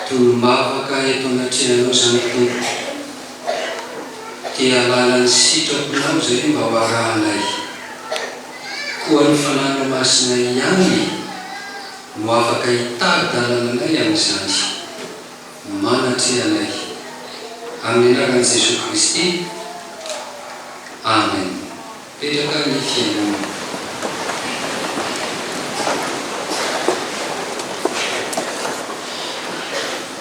Tolom-bavaka eto anatrehanao izany Tompoko, dia alala ny sitraponao izay mba ho arahanay. Koa ny Fanahinao Masina ihany no afaka hitari-dalana anay amin'izany. Manatreha anay. Amin'ny anaran'i Jesoa Kristy. Amen. Petraka ny fiainana.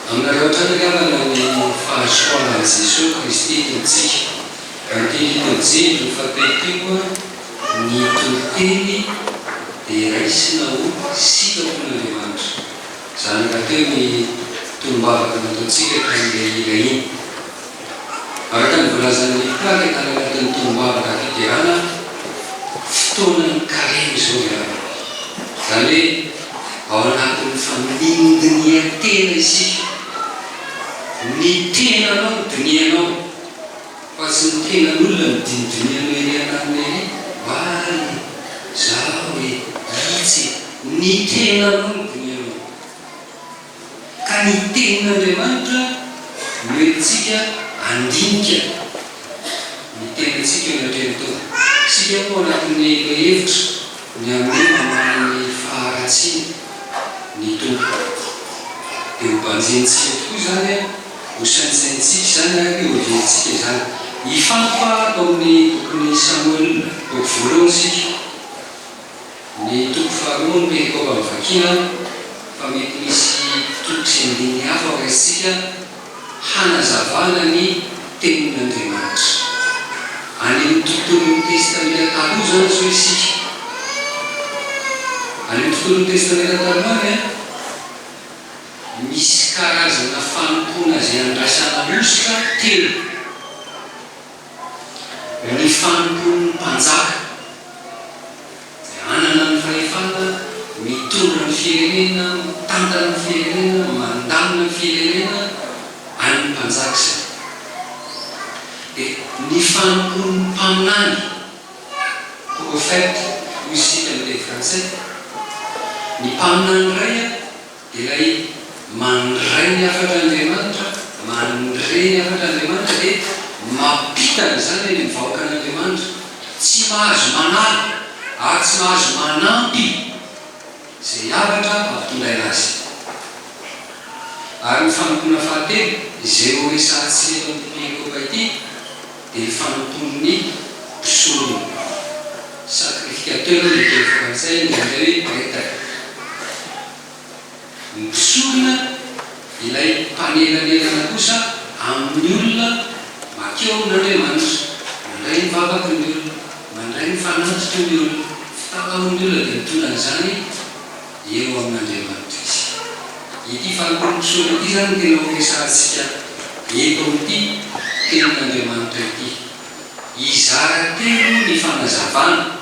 Aminareo hatrany angambany ny fahasoavan'i Jesoa Kristy Tompontsika. Raha ny teny teo Jly faha telo teo, ny toriteny dia raisina ho sitrapon'Andriamanitra. Izany rahateo ny tolom-bavaka nataontsika tamin'ilay hira iny. Araka ny voalazan'ny mpikambana tany anatin'ny tolom-bavaka fiderana, fotoanan'ny karemy izao ry havana. Izany hoe ao anatin'ny famindinihan-tena isika. Ny tenanao no dinihanao fa tsy ny tenan'olona no dinidinihanao ery an-danitra ery, oay e! izao e! itsy e! Ny tenanao no dinihanao. Ka ny tenin'Andriamanitra no entintsika handinika ny tenantsika eo an-tren-tany. Isika moa anatin'ny lohahevitra ny hanome mamaly ny faharatsiany ny Tompo. Dia ho banjinintsika tokoa izany, ho saintsaintsika izany ary ho heverintsika izany. Hifantoka ao amin'ny bokin'i Samoela, boky voalohany isika. Ny toko faharoa ny perikopa novakiana fa mety misy toko sy andininy hafa ho raisintsika hanazavana ny tenin'Andriamanitra. Any amin'ny tontolon'ny Testamenta Taloha izany izao isika. Any amin'ny tontolon'ny Testamenta Taloha any, misy karazana fanompoana izay andraisana hosoka telo. Ny fanompoan'ny mpanjaka izay hanana ny fahefana mitondra ny firenena, mitantana ny firenena, mandamina ny firenena, an'ny mpanjaka izany. Dia ny fanompoan'ny mpaminany, prophète hoy isika amin'ny teny frantsay, ny mpaminany iray an, Ilay mandray ny hafatr'Andriamanitra, mandre ny hafatr'Andriamanitra dia mampita an'izany any amin'ny vahoakan'Andriamanitra. Tsy mahazo manala ary tsy mahazo manampy izay hafatra ampitondraina azy. Ary ny fanompoana fahatelo, izay horesahantsika eto amin'ity perekopa ity, dia ny fanompoan'ny mpisorona, sacrificateur ny teny frantsay, ny anglais hoe pretre, ny mpisorona ilay mpanelanelana kosa amin'ny olona makeo n'Andriamanitra, mandray ny vavaky ny olona, mandray ny fanatitry ny olona, fitalahoan'ny olona dia mitondra an'izany, eo amin'Andriamanitra izy. Ity fanolorompisondro ity izany no tena horesahantsika eto amin'ity Tenin'Andriamanitra ity. Hizara telo ny fanazavana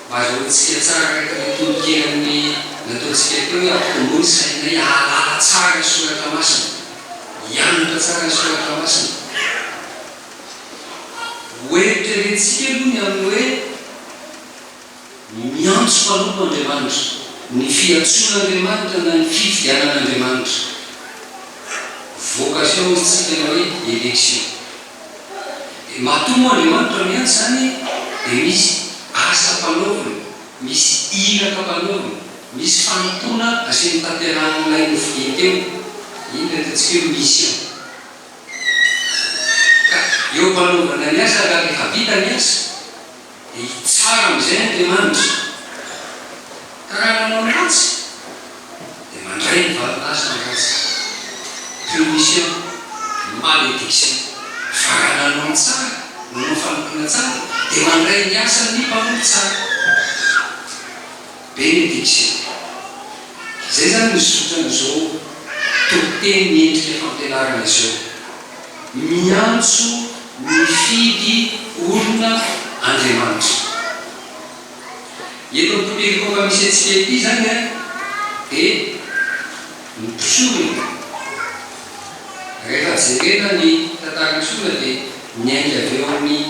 mba azahoantsika tsara araka ny tononkerin'ny nataontsika teo hoe ampitomoy ny sainay hahalala tsara ny Soratra Masina, hianatra tsara ny Soratra Masina. Hoeritreretintsika aloha ny amin'ny hoe. Miantso mpanompo Andriamanitra, ny fiantsoan'Andriamanitra na ny fifidianan'Andriamanitra. Vocation hoy isika na hoe election. Dia matoa moa Andriamanitra miantso izany dia misy asa ampanaoviny, misy iraka ampanaoviny, misy fanompoana asiany tanterahan'ilay nofidiny teo, iny ilay ataontsika hoe mission. Ka eo ampanaovana ny asa ka rehefa vita ny asa, Hitsara amin'izay Andriamanitra, ka raha nanao ny ratsy, dia mandray ny valin'asa ny ratsy, punition, malediction, fa raha nanao ny tsara, nanao fanompoana tsara, dia mandray ny asan'ny mpanompo tsara. Benediction. Izay izany no zotran'izao tobin-teny miendrika fampianarana izao. Miantso mifidy olona Andriamanitra. Eto amin'ny tontolo efa misy antsika ity izany dia mpisorona. Rehefa jerena ny tantaran'ny sorona dia miainga avy eo amin'ny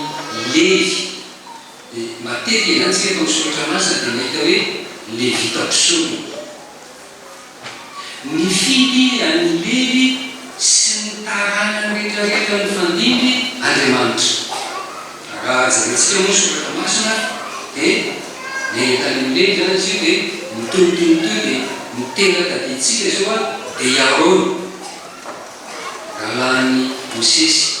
Levy. Dia matetika izany isika efa amin'ny soratra masina dia mahita hoe Levita mpisorona. Nifidy an'i Levy sy ny taranany rehetra rehetra nifandimby Andriamanitra. Raha jerentsika moa ny soratra masina dia niaina tany amin'i Levy izany izy io dia mitohy toy ny toy dia ny tena tadidintsika izao dia i Arona, rahalahin'i Mosesy.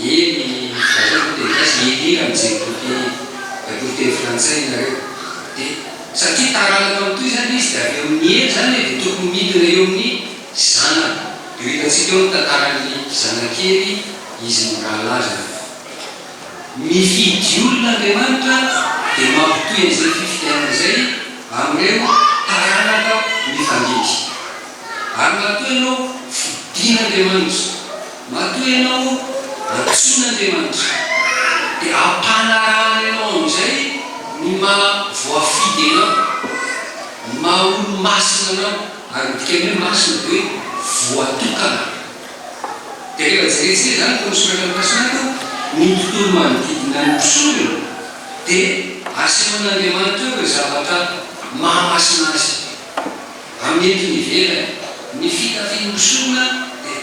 eny zareo no teny gasy eny eny am zay boky baiboly teny frantsay nareo de satria taranaka am toy zany izy de avy eo ny eny zany e de tokony midina eo aminy zanany de ho hitantsika eo ny tantarany zanakely izy no rahalahy zany fa mifidy olona Andriamanitra de mampitohy an zay fifidianana zay am reo taranaka mifandidy ary matoa ianao fidin Andriamanitra Matoa ianao antsoin' Andriamanitra, dia hampanarahany anao amin'izay ny maha voafidy anao, ny maha olo-masina anao, ary ny dikan'ny hoe masina dia hoe voatokana. Dia rehefa jerentsika izany tao amin'ny soratra mikasika an, ny tontolo manodidina ny mpisorona, dia asehon' Andriamanitra eo ireo zavatra maha masina azy, amin'ny entony ivelany, ny fitafian'ny mpisorona dia.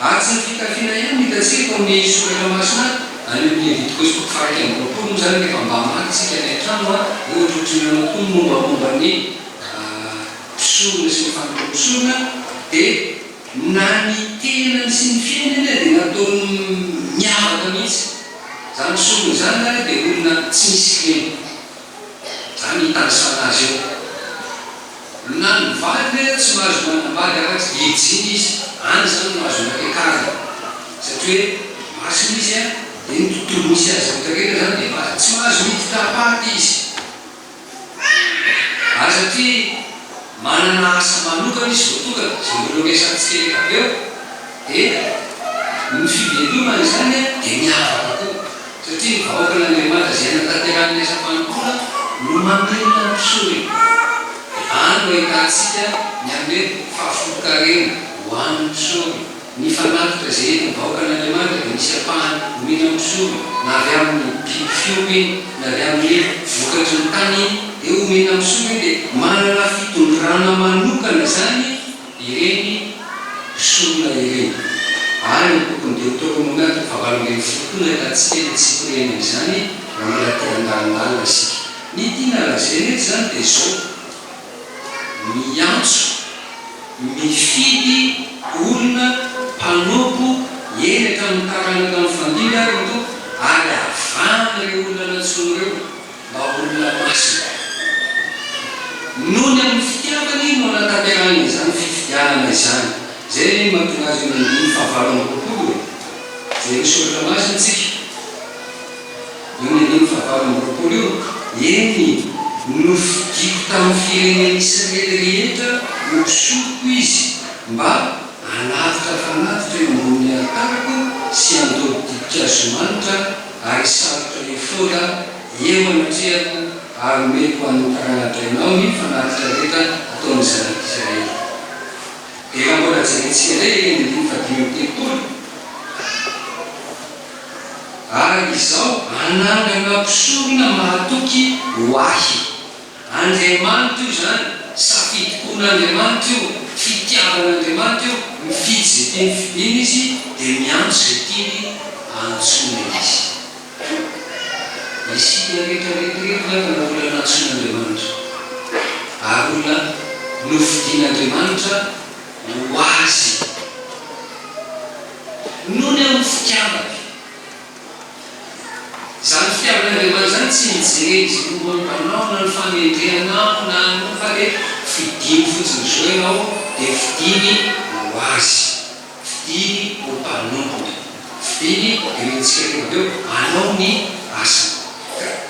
Asa fitafiana ihany no hitantsika tao amin'ny soratra masina ato, any amin'ny Levitiko sotoko faha-iraika amby roapolo moa izany rehefa mba maka isika ny an-trano a, ohatrohatry ny nanao koa ny mombamomba ny mpisorona sy ny fanompoan'ny mpisorona, dia na ny tenany sy ny fiainany ary dia nataony miavaka mihitsy, izany mpisorona izany ary dia olona tsy misy kilema, izany itanisana azy eo. Na ny vadiny aza tsy mahazo manambady afa-tsy virjiny izy, any izany no azony atao kajy satria hoe masina izy an, dia ny tontolo misy azy rehetra rehetra izany dia masina, tsy mahazo miditra am-paty izy ary satria manana asa manokana izy voatokana, izay mbola ho resahantsika rehefa avy eo, dia ny fivelomany izany dia miavaka koa. Satria ny vahoakan'Andriamanitra izay anatanterahin'ny asam-panompoana no mamelona ny mpisoriny. Any no ahitantsika ny amin'ny hoe fahafolon-karena ho an'ny mpisoriny. Ny fanatitra izay entin'ny vahoakan'Andriamanitra dia misy ampahany omeny amin'ny mpisoriny, na avy amin'ny biby fiompy iny, na avy amin'ny vokatry ny tany iny dia omeny amin'ny mpisoriny, dia manana fitondràna manokana izany. ireny mpisorona ireny ary ny tokony dia ho teo amoron'ady ny fahavalo ambin'ny folo koa nahitantsika ilay tsy hipirihana izany raha mbola te handalondalona isika. Ny tiana lazaina eto izany dia izao, miantso, mifidy olona mpanompo eny hatramin'ny taranaka mifandimby ary ny Tompo ary avahana ireo olona nantsoiny ireo. mba ho olona masina. Nony amin'ny fitiavany no anatanterahany izany fifidianana izany. Izay anie no mahatonga azy eo amin'ny andininy fahavalo amby roapolo e! Jereo soratra masina isika, eo ny andininy fahavalo amby roapolo io, Eny, nofidiko tamin'ny firenen'Israely rehetra ho mpisoroko izy, mba hanatitra fanatitra eo ambonin'ny alitariko sy handoro dimpikazo manitra, ary sarotra ny fotoana eo anatrehako ary omeko ho an'ny tarana-drainao ny fanatitra rehetra ataon'ny zanak'i Isiraely. Dia raha mbola jerentsika indray ireny andininy fahadimy amby telopolo, ary izao anangana mpisorona mahatoky ho ahy. Andriamanitra io izany, safidim-pon'Andriamanitra io, fitiavan'Andriamanitra io, mifidy izay tiany fidina Izy dia miantso izay tiany antsoina Izy. Isika rehetra rehetra rehetra angambany olona nantsoin'Andriamanitra ary olona nofidin'Andriamanitra ho Azy nony amin'ny fitiavany. Izany fitiavan'Andriamanitra izany tsy nijery izay momba ny mpanao na ny famerenanao na ny fa dia fidiny fotsiny zo ianao dia fidiny ho azy, fidiny ho mpanompony, fidiny ireo nitsika teo avy eo hanao ny asany.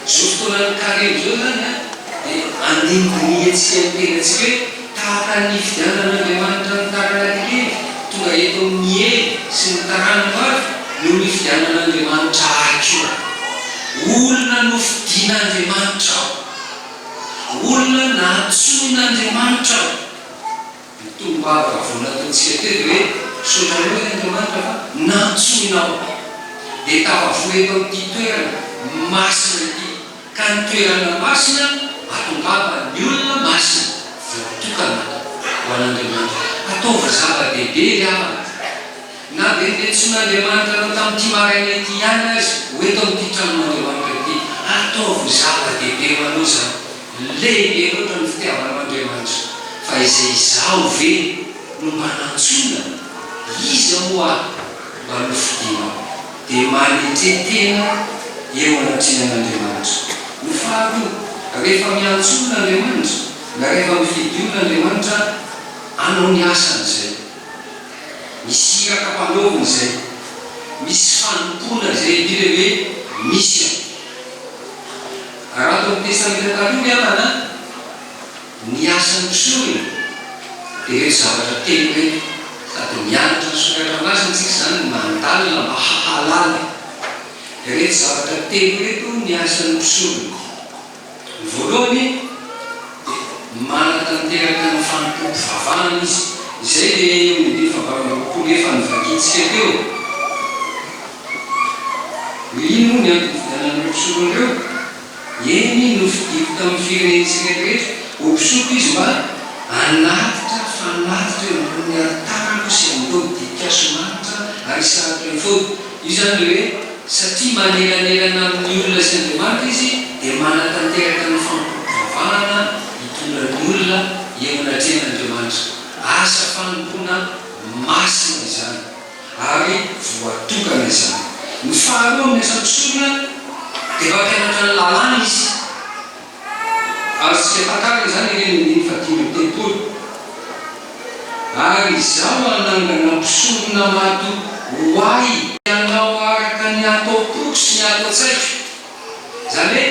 Izao fotoanan'ny karemy izao izany an, dia andinindiniantsika ny tenantsika hoe tahaka ny hifidianan'Andriamanitra ny taranak'i Levy tonga eto amin'ny Ely sy ny taranako avy no nifidianan'Andriamanitra ahy koa. Olona nofidin'Andriamanitra aho. Olona nantsoin'Andriamanitra aho. Ny tononkalo vao nataontsika teo dia hoe, Sorainao eto Andriamanitra fa nantsoinao aho, dia tafavory eto amin'ity toerana masina ity, ka ny toerana masina atongava ny olona masina voatokana ho an'Andriamanitra. Ataovy zava-dehibe ry havana, na dia ny nentsoin'Andriamanitra anao tamin'ity maraina ity ihany aza ho eto amin'ity tranon'Andriamanitra ity, ataovy zava-dehibe ho anao izany. Lehibe loatra ny fitiavanao Andriamanitra fa izay izaho ve no mba nantsoina? Iza moa aho mba nofidinao? Dia manetria tena eo anatrehan'Andriamanitra. Ny faharoa, rehefa miantso olona Andriamanitra na rehefa mifidy olona Andriamanitra, anao ny asany izay. Misy iraka ampanaoviny izay. Misy fanompoana izay indrindra hoe misy an. Raha ny Testamenta Taloha ny havana ny asan'ny mpisorona dia ireto zavatra telo ireto, sady mianatra ny Soratra Masina isika izany mandalina mba hahalala ireto zavatra telo ireto ny asan'ny mpisorona. Ny voalohany dia manatanteraka ny fanompoam-pivavahana izy, izay dia eo amin'ny dimy faha valo amby roapolo efa novakitsika teo. Hoe inona moa ny antony nifidianan'ireo mpisoko an'ireo? Eny, nofidiko tamin'ny fireneny tsirairehetra ho mpisoko izy mba hanatitra fanatitra eo ambonin'ny alitarako sy handoa dikan-kazo manitra ary hisarika ny fody. Io izany ilay hoe satria manelanelana amin'ny olona sy Andriamanitra izy dia manatanteraka ny fampivavahana hitondra ny olona eo anatrehan'Andriamanitra. Asa fanompoana masina izany. ary voatokana izany. Ny faharoa amin'ny asa mpisorona dia mampianatra ny lalàna izy. Azontsika takarina izany ireny andininy fahadimy amby telopolo, Ary Izaho hanangana mpisorona mato ho Ahy. Hanao araka ny hataom-poko sy ny hataon-tsaiko. Izany hoe,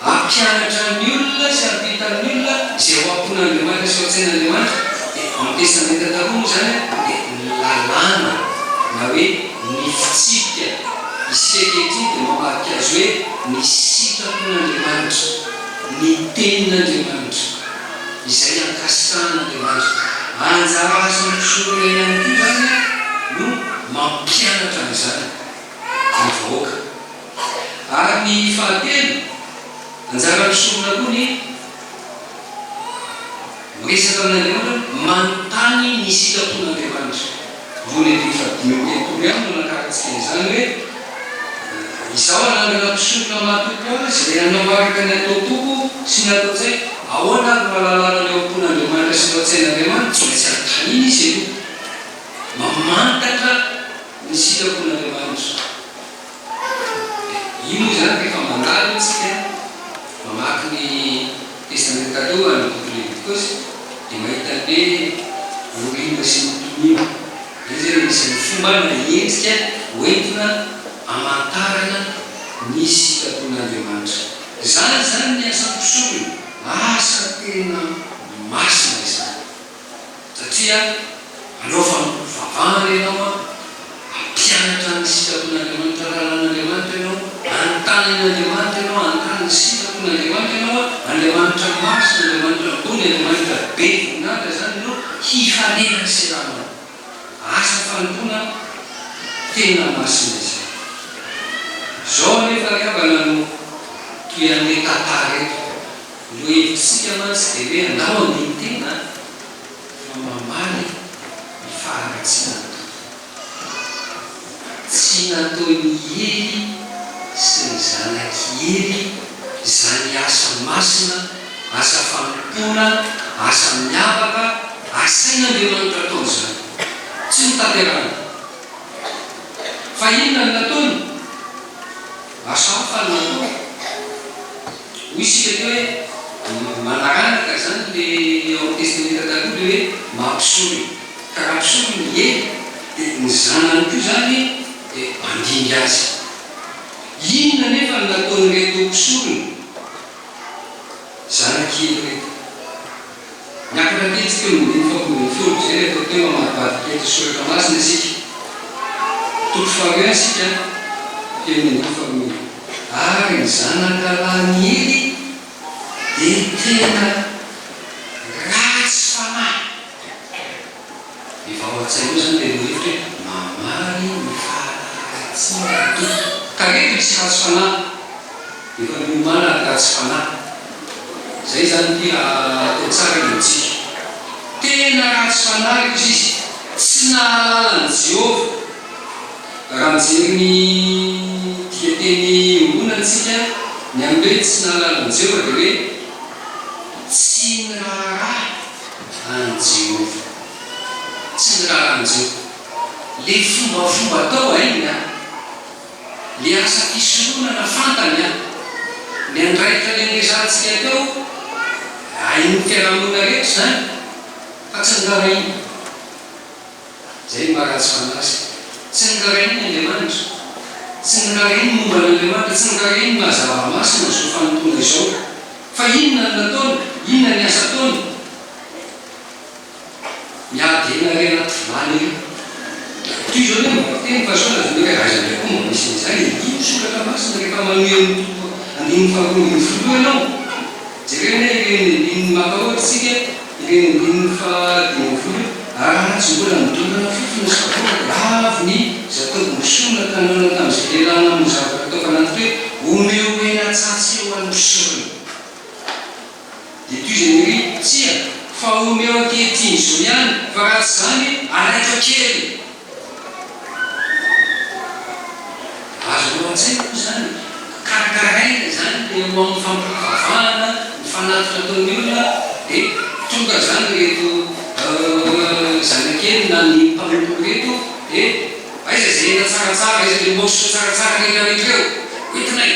hampianatra ny olona sy hampita ny olona izay ao am-pon'Andriamanitra sy ao an-tsain'Andriamanitra, dia en Testamenta Taloha moa izany dia ny lalàna na hoe ny fitsipika. Isika ankehitriny dia mamarika azy hoe ny sitrapon'Andriamanitra, ny Tenin'Andriamanitra, izay ankasitrahan'Andriamanitra. Anjara asan'ny mpisorona ihany koa izany no mampianatra an'izany ny vahoaka. Ary ny fahatelo, anjara misonona koa ny miresaka amin'Andriamanitra hoe manontany ny sitrapon'Andriamanitra. Vol. Eto efa dimy amby enimpolo ihany no nakarantsika an'izany hoe, Izaho hanangana mpisoroka matoky ho ahy izay hanao araka ny ataom-poko sy ny ataon-tsaiko. Ahoana ary no hahalalana ny ao am-pon'Andriamanitra sy ny ao an-tsain'Andriamanitra? Tsy maintsy anontaniana izy aloha. Mamantatra ny sitrapon'Andriamanitra. dia inona izany rehefa mandalo isika mamaky ny Testamenta Taloha ny boky Levitikosy dia mahita ny hoe voriana sy ny toniana. Izay izany anisan'ny fomba na endrika hoentina hamantarana ny sitrapon'Andriamanitra. Izany izany ny asa mpisorona, asa tena masina izany. satria manao fivavahana ianao an, hampianatra ny sitrapon'Andriamanitra, ny lalàn'Andriamanitra ianao, hanontany an'Andriamanitra ianao, hanontany ny sitrapon'Andriamanitra ianao an, Andriamanitra masina, Andriamanitra ambony, Andriamanitra be voninahitra izany no hihalena ny seranao. Asa fanompoana tena masina izany. Izao anefa ry havana no toy an'ilay tantara eto. Ireo hevitr'isika mantsy dia hoe andao handini-tena fa mamaly ny faharatsian'ny Tompo. Tsy nataon'i Ely sy ny zanak'i Ely izany asa masina, asa fanompoana, asa miavaka asain'Andriamanitra atao izany. Tsy notanterahany. Fa inona no nataony? Lasa hafa ny manoatra. Hoy isika aty hoe manaraka izany le ao amin'ny Testamenta Taloha le hoe mampisorona. Ka raha mpisorona ny ely dia ny zanany koa izany dia mandimby azy. Inona anefa no nataon'ireto mpisorona zanak'ely ireto? Niakatra kely teo amin'ny dimy fapolo ambin'ny folo izay rehefa teo amadibadika eto soratra masina isika. Toko faharoa ihany isika teo amin'ny andininy faharoa iny. Ary ny zanaka lahin'i Ely dia tena ratsy fanahy. Efa ao an-tsainao izany ilay lohahevitra hoe mamaly ny fahalalaharatsiny ny Tompo. Tareto hisy ratsy fanahy. Efa miomàna ny ratsy fanahy. Izay izany ity raha atao tsara ny amintsika. Tena ratsy fanahy io sisa. Tsy nahalala an'i Jehovah. Raha mijery ny dikateny iombonana isika, ny amin'ny hoe tsy nahalala an'i Jehovah dia hoe tsy niraharaha. An'i Jehovah. Tsy ny raran'i Joba. Ilay fombafomba atao hainy an! Ilay asa fisoronana fantany an! Ny andraikitra niandresantsika teo, hain'ny fiarahamonina rehetra izany, fa tsy noraharahiana. Izay no maha-ratsy fanahy azy. Tsy noraharahiany ny Andriamanitra. Tsy noraharahiany ny momba an'Andriamanitra. Tsy noraharahiany ny maha-zava-masina izao fanompoana izao. Fa inona no nataony? Inona ny asa ataony? Miady hena re anaty vilany ry. Toy izao ny ambara teny fa sao lazaina hoe aiza indray koa mba misy an'izay e? Io ny soratra masina rehefa manohy amin'ny toko andininy faharoa ambin'ny folo io ianao. Jereo anie ireny andininy mampahoatra antsika. Teny andininy faha dimy ambin'ny folo, Raha tsy mbola nidondona fofona sy voa lavo ny zatovo mpisorona tany Ona tamin'izay lehilahy namono zavatra tao Fananty hoe, Omeo hena atsatso eo an'ny mpisorona. Dia toy izay niry, Tsia, fa omeo ankehitriny izao ihany, fa raha tsy izany, araiko an-keriny. Azonao an-tsaina moa izany? Karakaraina izany dia eo amin'ny fampivavahana ny fanatitra ataon'ny olona dia tonga izany ireto zanakely na ny mpanompo ireto dia aiza izay hena tsaratsara, aiza ilay morceau tsaratsara rehetra rehetra ireo? Hoentina e!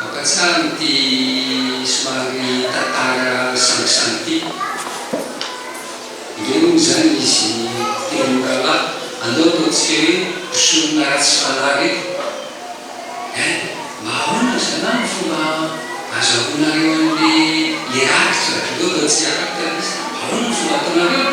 Mampatsiaro ity somary tantara sangisangy ity. Ireny moa izany izy telo rahalahy, andao ataontsika hoe mpisonona ratsy fanahy ireto. Eh, mba ahoana ry zalahy no fomba azahoanareo an'ilay le rakitra? Andao ataontsika rakitra ilay izy. Ahoana no fomba ataonareo?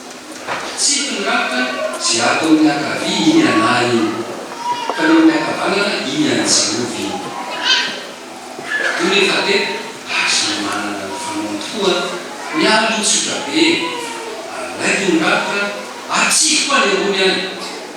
Tsy mpandrafitra izay ataon'ny miankavia iny ialahy iny, fa ny ao am-piakavanana iny any Jehovah iny. Io nefa dia ary samy manana ny fanaony tokoa ny ahy aloha tsotra be e! Alaiko ny rafitra, atsipiko any ambony any!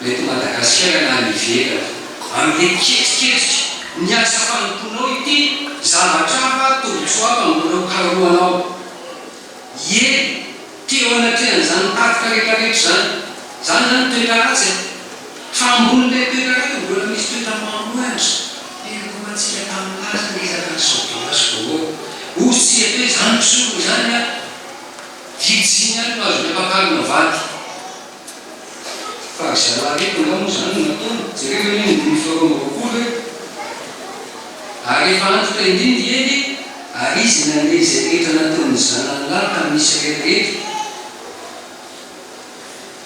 na eto Madagasikara na any ivelany. Ary dia ketriketrika ny asa fanompoanao ity zavatra hafa tombotsoa hafa mbola ho karohanao. Ieny, te eo anatrehan'izany tatitra rehetra rehetra izany. Izany izany toetra ratsy e. Fa ambonin'ilay toetra ratsy dia mbola misy toetra mahantra. Piangomantsika tamin'ny laza ny ezaka ny saovelasy vaovao. O tsy hety hoe izany mpisorona izany an! Virjiny ihany no azon'ny ampakarina vady. Fa ry zalahy reto angamba moa izany no nataony? Jereo ve ny ondrin'ny fito amby roapolo e! Ary efa antitra indrindra i Ely e! Ary izy nandeha izay rehetra nataon'ny zanany lahy tamin'ny Israely rehetra.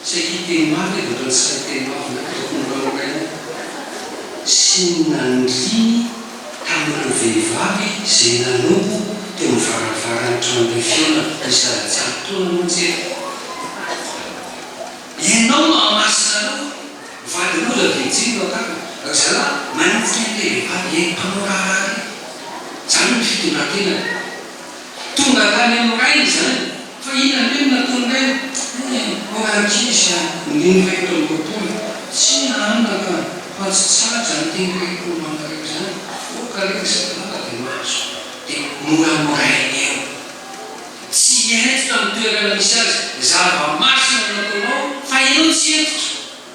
Saiky hiteny mafy aho dia ohatran'ny tsy sahy hiteny mafy indray fa tokony ho mora mora ihany aho. Sy ny nandriny. Tamin'ireo vehivavy izay nanompo teo amin'ny varavaran'ny tranon'ilay fihaonana, nisy lalan-tsary toa namonjy ahy. Ianao no hahamasina anao aho. Mivaly loza be jiro no agarina. Ry zalahy, manenjika an'ilay vehivavy, ilay mpanao raharaha ireny. Izany no fitondran-tenany. Tonga tany amin'ny rainy izany fa iny anie no natonga io. Hum, mbola ankizy aho, nony fahefatra amby roapolo, tsy nahanona ka fa tsy tsaja ny teny reko mankareo izany, avoaka aloha izay lamba dia mahazo, dia moramoràiny eo. Tsy hentitra ny toerana misy azy, zava-masina ny ataonao fa ianao tsy hentitra.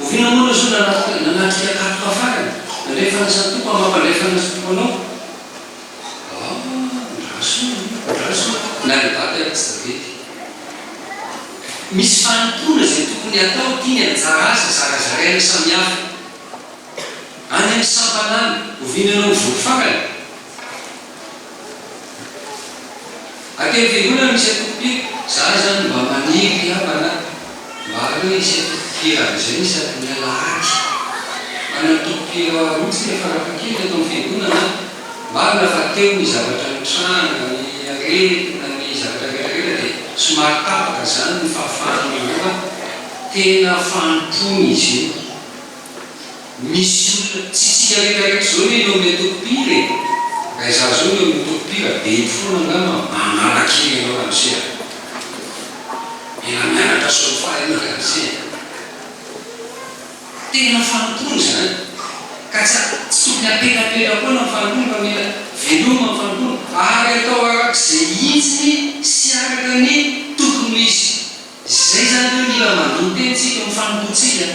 Oviana moa no soa nanatrika katoka farany? Nandray fandraisan'ny Tompo amin'ny maha-mpandray fandraisan'ny Tompo anao? Ah, ndra soa e! Ndra soa na ry daty ary tsy tavela e! Misy fanompoana izay tokony hatao, tiany anjara asa zarazaraina samihafa any amin'ny sampanana. Oviana ianao ho voafarany? Aty am fiangonana misy atokopira, za zany mba maniry ry havana a! mba aleo hisy atokopira amzay ny sabotsy alahady, manana tokopira roa tsika farafahakeliny eto am fiangonana a! marina fa teo ny zavatra nitranga, ny aretina, ny zavatra rehetra rehetra dia somary tapaka zany ny fahafahan'ny roa tena fanompoana izy io. Misy olona tsy tsikarekareky zao ne ny ao amin'ilay toko pire e! Raha izaho zao ny ao amin'ny toko pire dia eny foana angamba manala kely anao ramose a! Mila mianatra solfa ianao ramose e! Tena fanompoana izany ka tsy tsy tokony hampelapela foana ny fanompoana fa mila veloma ny fanompoana ary atao arak'izay hitsiny sy araka ny tokony ho izy. Izay izany hoe mila mandoa tena isika amin'ny fanompoantsika.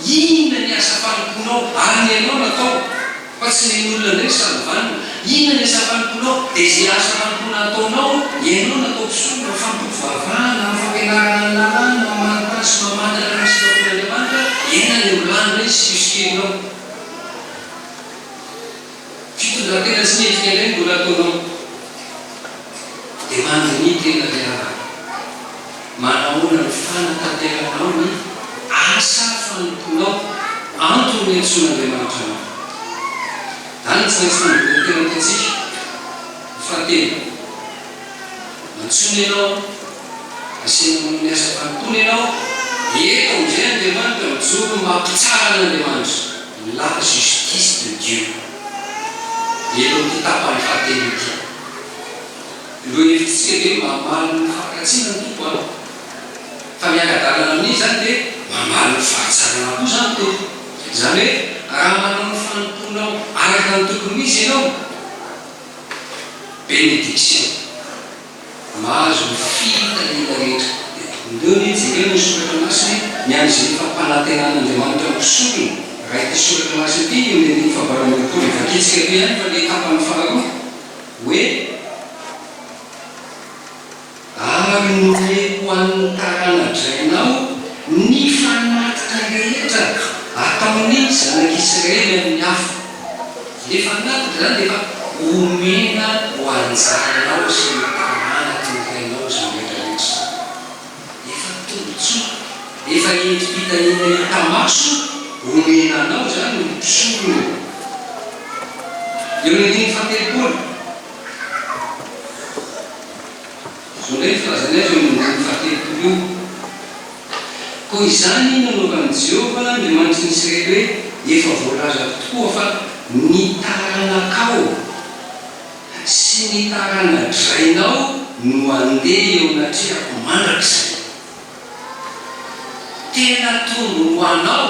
Inona ny asa fanompoanao? Ary ny anao natao fa tsy ny an'olona indray ny salovanao. Inona ny asa fanompoanao? Dia izay asa fanompoana ataonao eo. Ianao natao mpisolo, mpifampitompo vavahana, amin'ny fampianarana ny lalàny, mamarintany sy mamantatra ireo sitrapon'Andriamanitra, hiaina ilay milamina izy sy hisokelinao. Fitondran-tena tsy mendrika indray no mbola ataonao. Dia mandinihy tena ry havana. Manahoana no fanatanteranao ny asa fanompoanao? Antony niantsoan'Andriamanitra anao. Izany no tsy maintsy manodidina tena ataontsika. Ny fahatelo, Antsoina ianao aho. Asiana ho amin'ny asam-panompoana ianao. Eto amin'izay Andriamanitra mijoro ho maha mpitsara an'Andriamanitra. La justice de Dieu. Elo ity tapany fahatelo ity. Ireo hevitrisika ve mamaly ny fampiratsiana ny Tompo an? Fa mianka-dalana amin'iny izany dia mamaly ny fahatsarana koa izany Tompo. Izany hoe raha manao ny fanompoanao araka ny tokony ho izy ianao, benediction. Mahazo ny fihita hita rehetra eto. Omeo anie jereo ny soratra masina e, ny an' izay fampanantenan' Andriamanitra ny mpisorona, raha ity soratra masina ity eo ny andininy fahavalo amby roapolo dia vakintsika eto ihany fa ilay tapany faharoa hoe ary nomeko ho an' ny tarana-drainao ny fanatitra rehetra ataon' ny zanak' Israely amin' ny afo. Efa nataoko izany dia efa omena ho anjaranao sy ny tanàna tontainao izany rehetra rehetra izany. Efa tombontsoa, efa endri-pitahiana hita maso omena anao izany ry mpisolo ô! Eo ny andininy fahatelopolo. Azo indray ny filazana azy eo amin'ny andininy fahatelopolo io, Koa izany nanaovan'i Jehovah Andriamanitry ny Isiraely hoe, Efa voalazako tokoa fa ny taranakao sy ny tarana-drainao no handeha eo anatrehako mandrakizay. Tena tombony ho anao!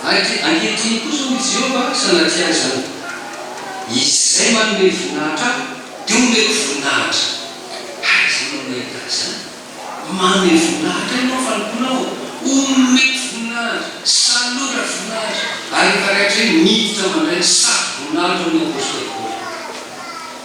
Ary ankehitriny kosa, hoy Jehovah, sanatria izany, izay manome voninahitra Ahy, dia homeko voninahitra. Aiza no nahita an'izany? Manome voninahitra ianao fanompoana Aho, homeko voninahitra, salora voninahitra. Ary efa raikitra hoe miditra mandray ny saky voninahitra, hoy ny apostoly Paoly.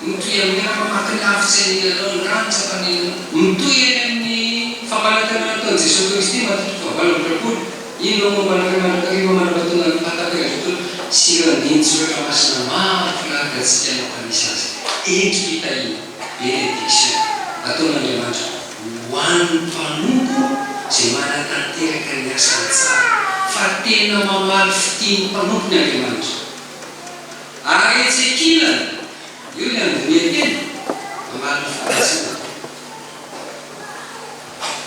Mitohy amin'ny ady maty lavitsy any Nalondra ny tsapan'Ilay. Mitohy any amin'ny fampanantenana ataon'i Jesoa Kristy maty toko fahavalo amby roapolo. Inona moa mba anarana mandrakariva manambatonga ny fahataperan'ny tontolo sy ireo andinin-tsoratra masina maro filaharana antsika nampanisa azy? Endri-pitahiana, bénédiction, ataon'Andriamanitra ho an'ny mpanompo izay manatanteraka ny asany tsara, fa tena mamaly fitia ny mpanompony Andriamanitra. Ary etsy ankilany, eo ny Andoniakely, ambany fandraisana.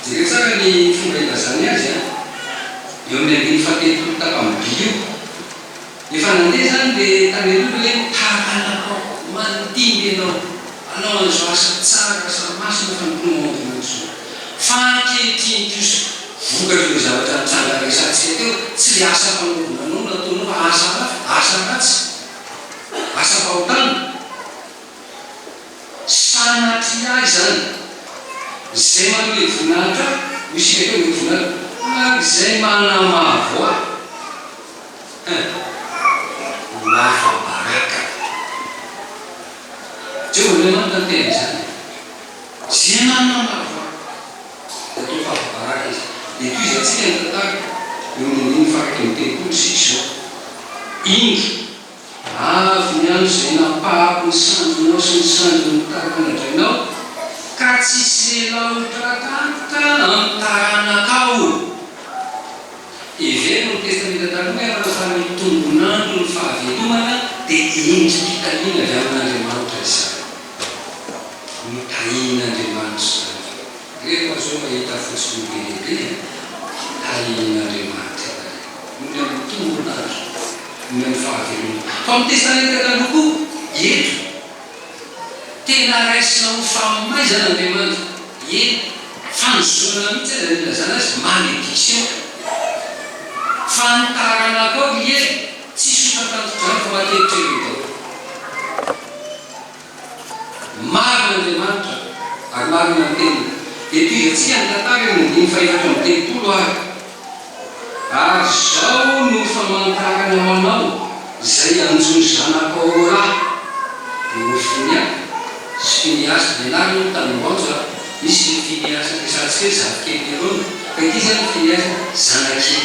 Jereo tsara ny fomba ilazany azy an! Eo amin'ny andininy fahatelopolo tapany by io. Efa nandeha izany dia tany aloha ilay hoe, Taranakao, mandimby ianao, hanao an'izao asa tsara, asa masina fa ny mpinono aody mandroso. Fa ankehitriny kosa. Vokatr'ireo zavatra nitranga resahantsika teo, tsy ilay asa fanaovana anao no ataonao fa asa hafa, asa ratsy, asa fahotana. Sanatria izany. Izay manome ny voninahitra ahy, hoy isika teo, mety voninahitra, ary izay manamavo ahy, hein, ho afa-baraka. Jehovah Andriamanitra no niteny an'izany e. Izay manamavo ahy. Dia toa fa voabaraka izy. Dia tohizantsika ny tantara eo amin'ny andininy faha-raika amby telopolo sy izao. Indro. Avy ny andro izay nampahako ny sandrinao sy ny sandrin'ny taranadrainao, ka tsy sela ho tratraritra amin'ny taranakao. Hevero ny Testamenta Taloha hoe ampanahy fa ny tombon'andron'ny fahavelomana dia endri-pitahiana avy amin'Andriamanitra izany. Notahian'Andriamanitra izany. Rehefa azo mahita fotsiny io be dia be an, tahian'Andriamanitra ianareo. Noho ny amin'ny tombon'andro, noho ny amin'ny fahavelomana. Fa amin'ny Testamenta Taloha koa, eto, tena raisina ho famaizana Andriamanitra. Eny, fanozonana mihitsy aza no ilazana azy, malédiction. Fa ny taranakao ry hery, tsy sotatanton-drano fa matetika ireo daholo. Marina Andriamanitra ary marina ny teniny. Eto iza tsy hany tantara eo amin'ny dimy fahefatra amby telopolo ary ary zao no famantarana manao izay anjo zanako ao rah dia Hofinia sy Finiasy dia ianareo no tany Ambanja a misy ny Finiasy ampiasantsika hoe zafikely ny Arona fa ity izany ny Finiasy zanakely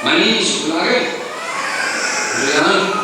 maninona izy roa lahy reo? Andriandro.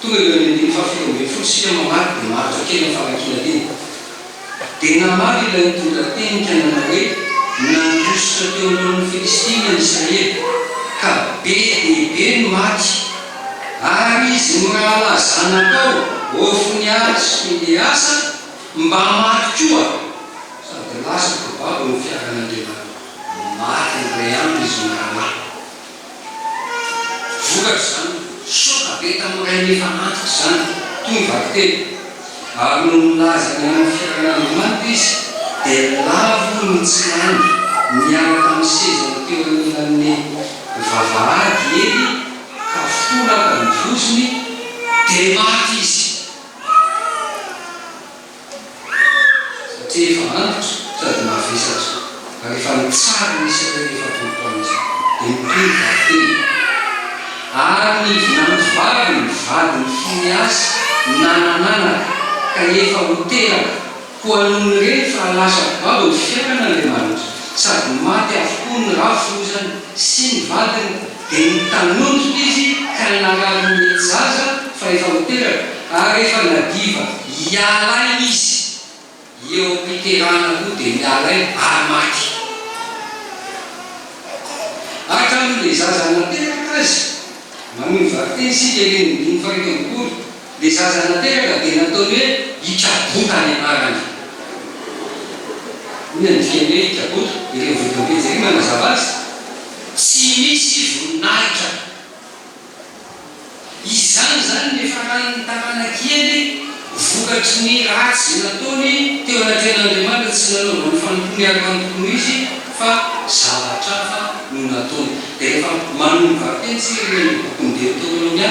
Tonga eo amin'ny andininy fahafito ambin'ny folo isika mamaky dia maharitra kely amin'ny famakiana teny. Dia namaly ilay nitondra teny ka nanao hoe, Nandositra teo alohan'ny Filistina ny Israely, ka be dia be ny maty, ary izy mirahalahy zanakao, Hofnia sy Finehasa, mba maty koa, sady lasa mpibabo ny fiaran'Andriamanitra. Maty ny iray andro izy mirahalahy. Vokatr'izany, soka be tamin'ny rainy efa antitra izany, toy ny vakiteny. Ary nony nilaza ny amin'ny fiainan'Andriamanitra izy, dia lavo ny tsirany, niala tamin'ny sezany teo anilan'ny vavahady i Ely, ka fo lava ny vozony, dia maty izy. satria efa antitra sady mavesatra, ary efa nitsara ny isany hoe efa telo taona izany, dia mitohy ny vakiteny. Ary ny vinanto vavy ny vadin'i Fineasy nanan'anaka, ka efa ho teraka, koa nony nireny fa lasa babo ny fiainana Andriamanitra, sady maty avokoa ny rafiny hoy izany sy ny vadiny, Dia nitanondrika izy ka nangaly ny zaza fa efa ho teraka, ary rehefa nadiva ialahy izy eo am-piterahana koa dia ialahy ary maty. Hatramin'ilay zaza nateraka azy, manohy variteny isika, andininy faha-fito amby folo. Ilay zaza nateraka dia nataony hoe Ikabota ny anarany. Inona no dikan'ny hoe Ikabota? Ireo mivodim-pejy ireo manazava azy. Tsy misy voninahitra. Izany izany no nifaran'ny taranak'iely vokatry ny ratsy nataony teo anatrehan'Andriamanitra, tsy nanaovany fanompoana araka ny tokony ho izy fa zavatra hafa no nataony. Dia rehefa manomboka avy teny isika ilay bokin'i Deoterônomia,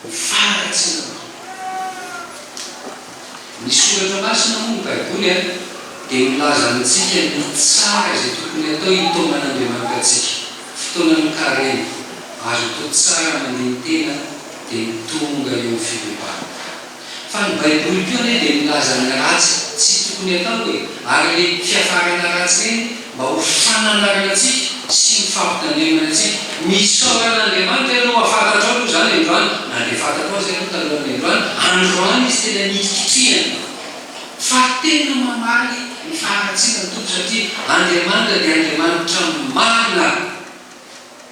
Ho faharatsiana anao. Ny soratra masina moa, ny Baiboly, dia milaza amintsika ny tsara izay tokony hatao hitaoman'Andriamanitra antsika. Fotoana mikarena, azo atao tsara mandini-tena dia ny tonga eo amin'ny fibebahana. Fa ny Baiboly koa anie dia milaza ny ratsy tsy tokony hatao e! Ary ireny fiafarana ratsy ireny mba ho fananaranan-tsika sy ho fampitandremana antsika. Misaora an'Andriamanitra ianao fa fantatrao aloha izany androany, na dia fantatrao aza ianao talohan'ny androany, androany izy tena nikitrihana fa tena mamaly ny faharatsiana ny Tompo satria Andriamanitra dia Andriamanitra marina.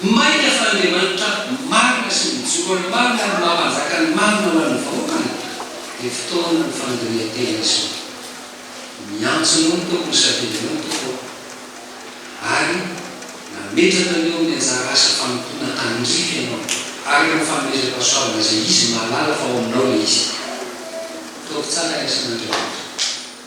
Mainka fa Andriamanitra marina sy mijoro marina ary mahapanjaka ny marina ho an'ny vahoakany dia fotoana ho fandinihan-tena izao. Miantso anao ny Tompo misafidy anao ny Tompo aho ary nametraka an'io amin'ny anjara asa fanompoana tandrify ianao araka ny fanomezam-pahasoavana izay Izy mahalala fa ao aminao ilay izy. Ataovy tsara ny asan'Andriamanitra.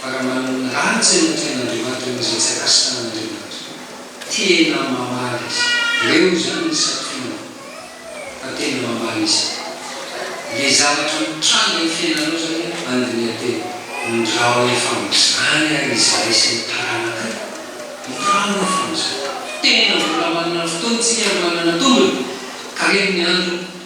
Fa raha manana ny rariny tsy hanompo an' Andriamanitra noho izay tsy akasitrahana an' Andriamanitra. Tena mamaly azy ireo izany ny santionany fa tena mamaly izy ireo. Le zavatra mitranga eo fiainanao zany an andiniha tena. Ndrao efa amizany ary izahay sy ny taranakay, ndrao efa amizany. Tena mbola manana fotoana tsika ary manana tombony ka reny ny andro.